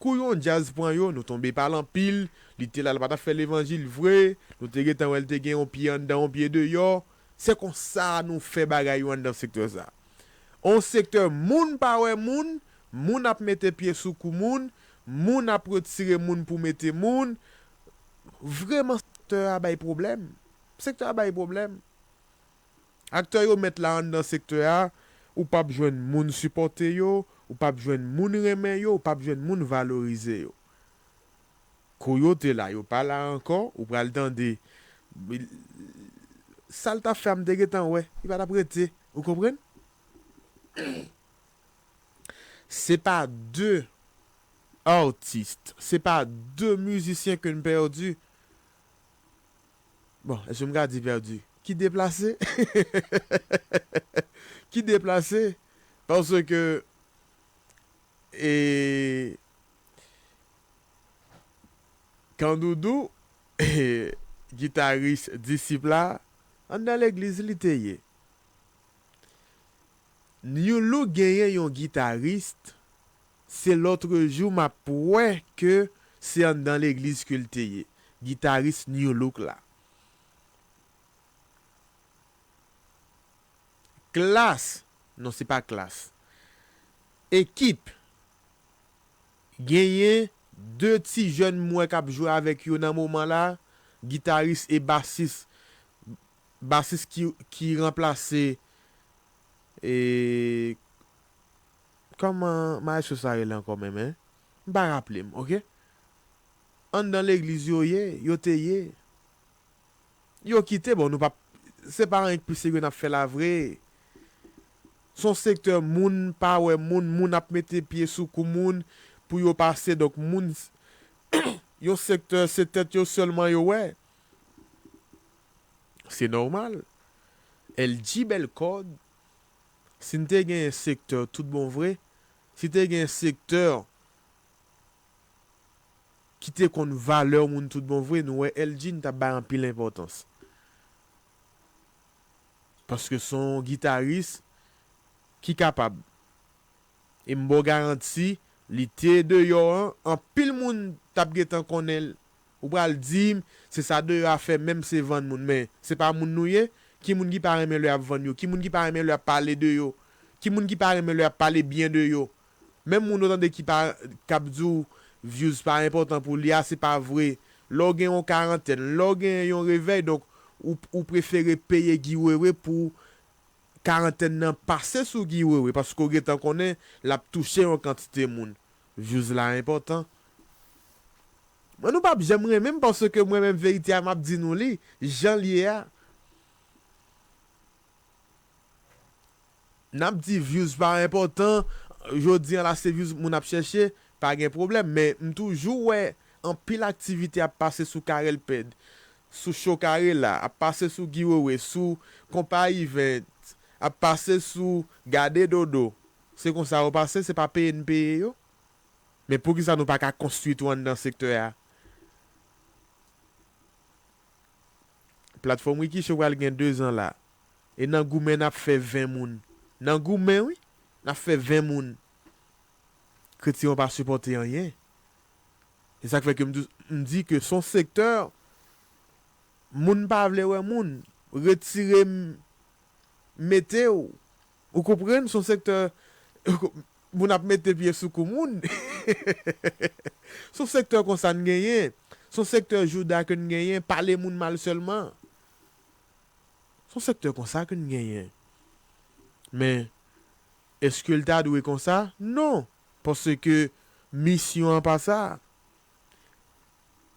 Kou yon djaz pran yo nou tonbe pal anpil, li te la l pa tap fè levanjil vre, nou te gentan wè l te gen yon pye anndan yon pye deyò, se konsa nou fè bagay yo anndan sektè sa. On sektè moun pa wè moun, moun ap mete pye sou kou moun, moun ap retire moun pou mete moun, vreman sektè a bay pwoblèm, sektè a bay pwoblèm. Aktè yo mèt la anndan sektè a, ou pap jwenn moun sipòte yo, ou pap jwenn moun renmen yo, ou pap jwenn moun valorize yo. Kou yo te la, yo pa la ankò, ou pral tande, Sa l t ap fè a m te gentan wè, li pa t ap rete. Ou konprann? Se pa de artistes, se pa de musiciens que n perdu. Bon, èske m ka di pèdi? Ki deplase? Ki deplase? Paske, e, Kandoudou, e, gitaris Disip la, anndan legliz li te ye. Nu-look genyen yon gitaris. Se lotrejou map wè ke se anndan legliz kel te ye. Gitaris Nu Look la. Klass, non se pa klass. Ekip, genyen 2 ti jèn m wè kap jwe avèk yo nan moman la, gitaris e basis, basis ki ranplase Kòman maestro sa rele ankò menm hein? M pa raple m ok. Anndan legliz yo ye, yo te ye. Yo kite bon nou pap se pa anyen k pi serye n ap fè la vre. S on sektè moun pa wè moun, moun ap mete pye sou kou moun pou yo pase donk moun yon sektè se tèt yo sèlman yo wè. Se nòmal. LG bèl kòd. Si n te genyen sektè tout bon vre, si te genyen sektè ki te konn valè moun tout bon vre, nou wè Elgin t ap bay anpil enpòtans. Paske se yon gitaris ki kapab. E m ba w garanti, li te deyò an, anpil moun t ap gentan konnen Ou pral dim se sa deyò a fè menm se vann moun men se pa moun nou ye? Ki moun ki pa renmen lè yap vann yo? Ki moun ki pa renmen lè yap pale de yo? Ki moun ki pa renmen lè yap pale byen de yo? Menm moun ou tande ki pa kap di w vyouz pa enpòtan pou li a se pa vre lè w gen yon karantèn lè w gen yon revèy donk ou ou prefere peye Guy Wewe pou karantèn nan pase sou Guy Wewe paske w gentan konnen lap touche yon kantite moun Views la enpòtan. Mwen nou pap janm renmenm paske mwen menm verite a map di nou li janl ye a nap di views pa enpòtan jodi an la se views moun ap chèche pa gen problèm men m toujou wè anpil aktivite ap pase sou Carel Ped sou show Carella ap pase sou Guy Wewe sou konpa event ap pase sou gade dodo. Se konsa yo pase, se pa peye n peye yo. Men poukisa nou pa ka konstwi tou anndan sektè a? Platfòm Rikicho pral gen 2 zan la. E nan goumen n ap fè 20 moun. Nan goumen wi! N ap fè 20 moun. Kretyen yo pa sipòte anyen. Se sa k fè ke m toujou m di ke s on sektè moun pa vle wè moun. Retire m mete w. Ou konprann son sektè moun ap mete pye sou kou moun son sektè konsa n genyen son sektè jouda ke n genyen pale moun mal sèlman son sektè konsa ke n genyen men eske l ta dwe konsa non paske misyon an pa sa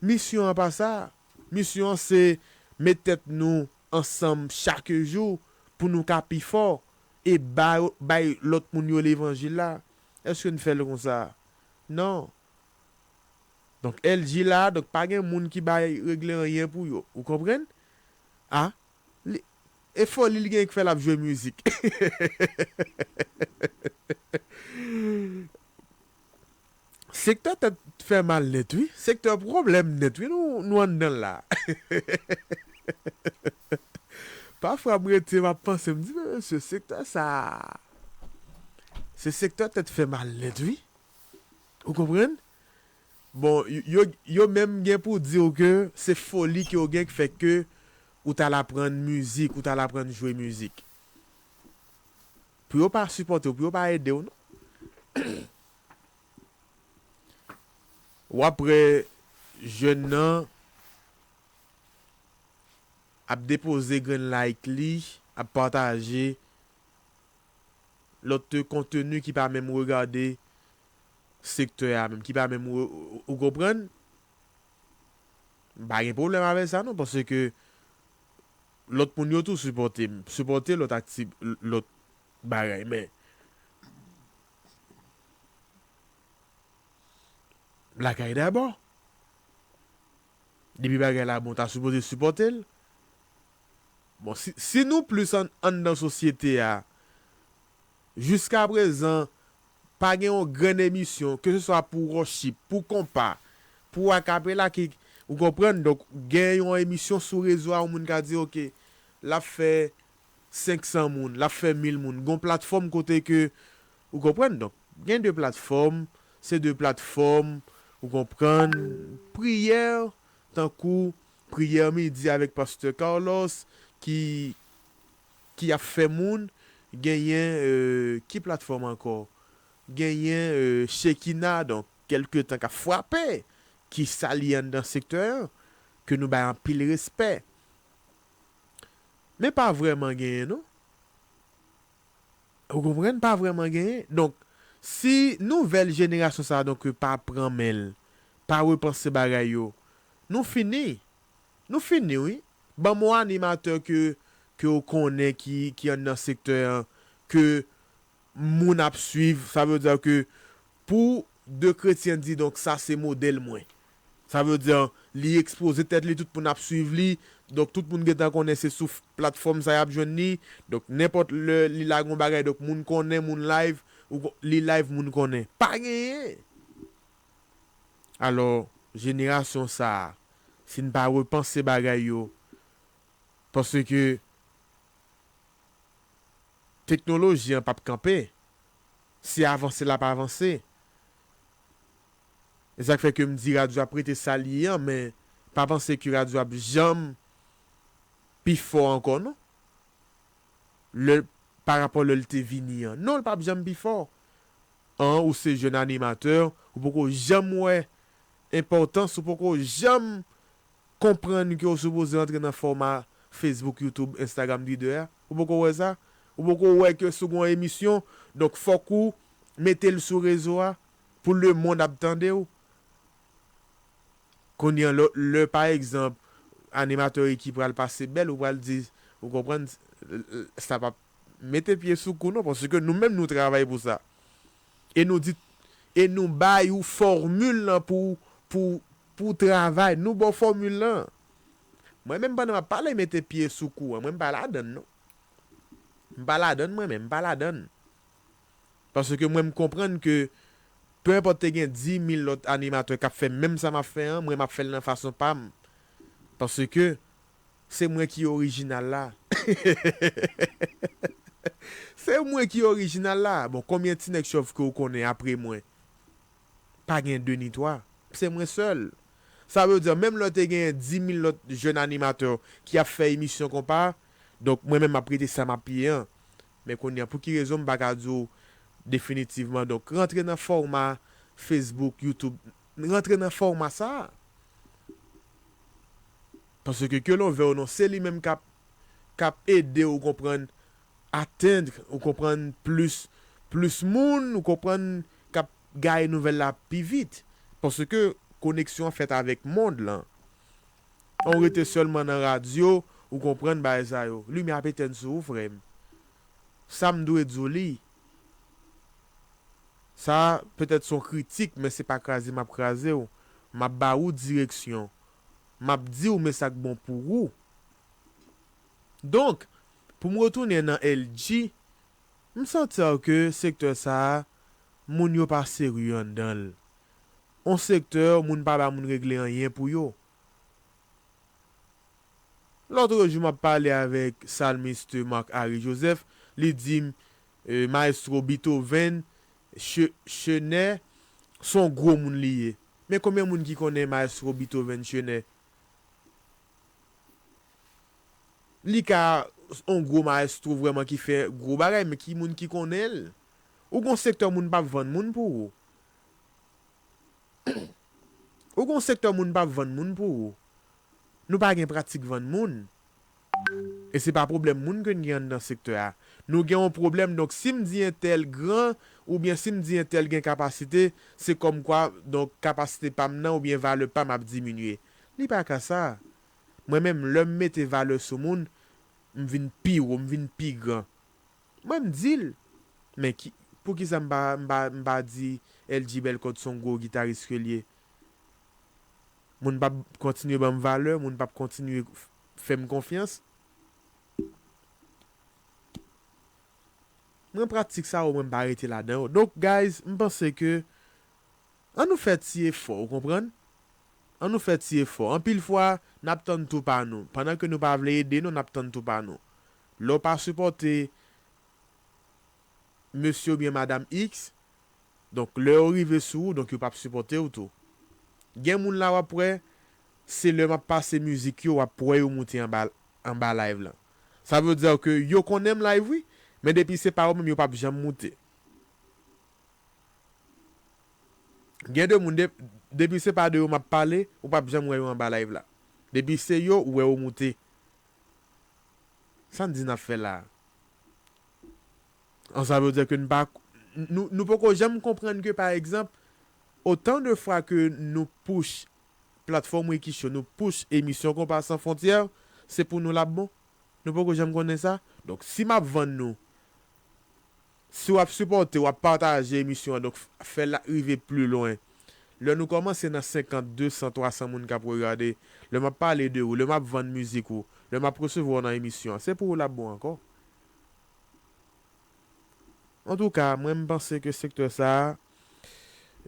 Misyon an pa sa. Misyon an se met tèt nou ansanm chak jou pou nou ka pi fò e bay lòt moun yo levanjil la. Èske n fè l konsa? Non. Donk LG la, donk pa gen moun ki bay regle anyen pou yo. Ou konprann? A. E foli li genyen ki fè l ap jwe mizik? Sektè tèt fè mal nèt wi. Sektè pwoblèm nèt wi nou anndan l la. Pafwa m rete m ap panse m di men mesye sektè sa se sektè tèt fè mal nèt wi. Ou konprann? Bon yo menm gen pou di w ke se foli ke w gen ki fè ke ou t al aprann mizik, ou t al aprann jwe mizik. Pou yo pa sipòte w, pou yo pa ede w non. Wap wè jèn nan ap depoze grenn like li, ap pataje lòt konteni ki pa menm regade sektè a menm, ki pa menm ou konprann? M pa gen pwoblèm avè sa non paske lòt moun yo tou sipòte m, sipòte lòt akti lòt bagay men. Lakay dabò. Depi bagay la bon ta sipoze sipòtel. Bon si nou plis anndan sosyete a jiska prezan pa gen yon grenn emisyon ke se swa pou wòchip, pou konpa, pou akapela ki ou konprann donk gen yon emisyon sou rezo a yon moun ka di ok lap fè 500 moun, l ap fè 1000 moun. Gon platfòm kote ke, ou konprann? Donk, gen 2 platfòm, se 2 platfòm, ou konprann, priyè, tankou priyè midi avèk pastè Carlos ki ki ap fè moun, genyen ki platfòm ankò? Genyen Shekinah, donk, kèlke tan k ap frape, ki sa li anndan sektè an, ke nou bay anpil respè. Men pa vrèman genyen non. Ou konprann? Pa vrèman genyen. Donk, si nouvèl jenerasyon sa a donk yo pa pran men l, pa repanse bagay yo, nou fini. Nou fini wi. Ban m yon animatè ke ke ou konnen ki ki anndan sektè an ke moun ap swiv sa vle dire ke pou de kretyen di donk sa se modèl mwen sa vle dire li ekspoze tèt li tout moun ap swiv li donk tout moun gentan konnen se sou platfòm sa yap jwenn li donk nenpòt lè li lage yon bagay donk moun konnen moun live li live moun konnen pa genyen alò jenerasyon sa si n pa repanse bagay yo paske. Teknoloji an pap kanpe, se avanse lap avanse. E sak fè ke m di radyo ap rete sal ye an men pa panse ke radyo ap janm pi fò ankò non. Lè pa rapò lè l te vini an. Non l pap janm pi fò. An ou se jèn animatè ou poko janm wè enpòtans ou poko janm. Konprann ke ou sipoze antre nan fòma Facebook, YouTube, Instagram, Twitter a. Ou poko wè sa? Ou poko wè ke si w gen yon emisyon, donk fòk ou mete l sou rezo a pou lemond ap tande w? Kounye an, lè pa egzanp animatè Ricky pral pase bèl, ou pral di, ou konprann, sa p ap mete pye sou kou non, paske nou menm nou travay pou sa. E nou di, e nou bay ou fòmil lan pou, pou, pou w travay. Nou ba w fòmil lan. Mwen menm pandan m ap pale mete pye sou kou an, mwen m pa ladann non. M pa ladann mwen menm, m pa ladann. Paske mwen m konprann ke pe enpòt te gen dimil lòt animatè k ap fè menm sa m ap fè an, mwen m ap fè l nan fason pa m. Paske. Se mwen ki orijinal la hehehehehehehehe Se mwen ki orijinal la Bon konbyen ti nèg chòv ke ou konnen apre mwen Pa gen 2 ni 3 Se mwen sèl Sa vle di menm lè te genyen 10000 lòt jèn animatè ki ap fè emisyon konpa Donk mwen menm map rete sa map ye an Men kounye a pou ki rezon m pa ka di w definitivman Donk rantre nan fòma Facebook, YouTube N rantre nan fòma sa a. Paske ke lon vè w non se li menm k ap k ap ede w konprann atteindre ou konprann plis plis moun ou konprann k ap gaye nouvèl la pi vit. Paske koneksyon an fèt avèk mond lan. An w rete sèlman nan radyo ou konprann bagay sa yo. Limyè ap etenn sou ou frè m. Sa m dwe di w li. Sa petèt son kritik men se pa kraze map kraze w, map ba ou direksyon, map di w men sak bon pou ou. Donk, pou m retounen nan LG, m santer ke sektè sa moun yo pa serye anndan l. On sektè moun pa ba moun regle anyen pou yo. Lotrejou map pale avèk Psalmiste Marc Harry Joseph, li di m, Maestro Beethoven Chener son gwo moun li ye men konbyen moun ki konnen Maestro Beethoven Chener li ka on gwo maestro vrèman ki fè gwo bagay men ki moun ki konnen l ou gon sektè moun pap vann moun pou ou ou gon sektè moun pap vann moun pou ou nou pa gen pratik vann moun E se pa pwoblèm moun ke n gen anndan sektè a. Nou gen yon pwoblèm, donk si m di entèl gran oubyen si m di entèl gen kapasite, se kòmkwa donk kapasite pa m nan oubyen valè pa m ap diminye. Li pa ka sa. Mwen menm lè m mete valè sou moun, m vin pi wo, m vin pi gran. Mwen m di l. Men ki, poukisa m pa, m pa, m pa di LG Bellecote s on gwo gitaris ke l ye? Moun p ap kontinye ban m valè, moun p ap kontinye fè m konfyans. Mwen pratik sa yo mwen m pa rete ladan yo. Donk guys m panse ke an nou fè ti efò ou konprann? An nou fè ti efò. Anpil fwa n ap tann tou pa nou. Pandan ke nou pa vle ede non n ap tann tou pa nou. Lè w pa sipòte Mesye oubyen Madam X, donk lè yo rive sou ou donk yo pap sipòte w tou. Gen moun la wap wè, se lè map pase mizik yo wap wè yo moute anba anba live lan. Sa veut dire ke yo konnen m live wi, men depi se pa yo menm yo pap janm moute. Gen de moun de depi se pa de yo map pale, ou pap janm wè yo anba live la. Depi se yo ou wè yo moute Sa n di n ap fè la a? An sa vle di ke n pa nou nou poko janm konprann ke pa egzanp otan de fwa ke nou push platfòm Ricky Show nou push emisyon Konpa San Fwontyè se pou nou l ap bon? Nou poko janm konnen sa? Donk si m ap vann nou Si wap sipòte wap pataje emisyon an donk fèl rive pli lwen lè nou kòmanse nan 50 200 300 moun kap regade lè map pale de ou lè map vann mizik ou lè map resevwa w nan emisyon an se pou ou lap bon ankò antouka mwen m panse ke sektè sa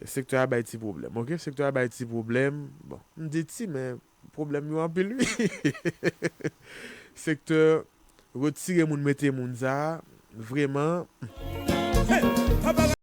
sektè a bay ti pwoblèm ok sektè a bay ti pwoblèm bon m di ti men Pwoblèm yo anpil wi. Sektè retire moun mete moun sa vreman.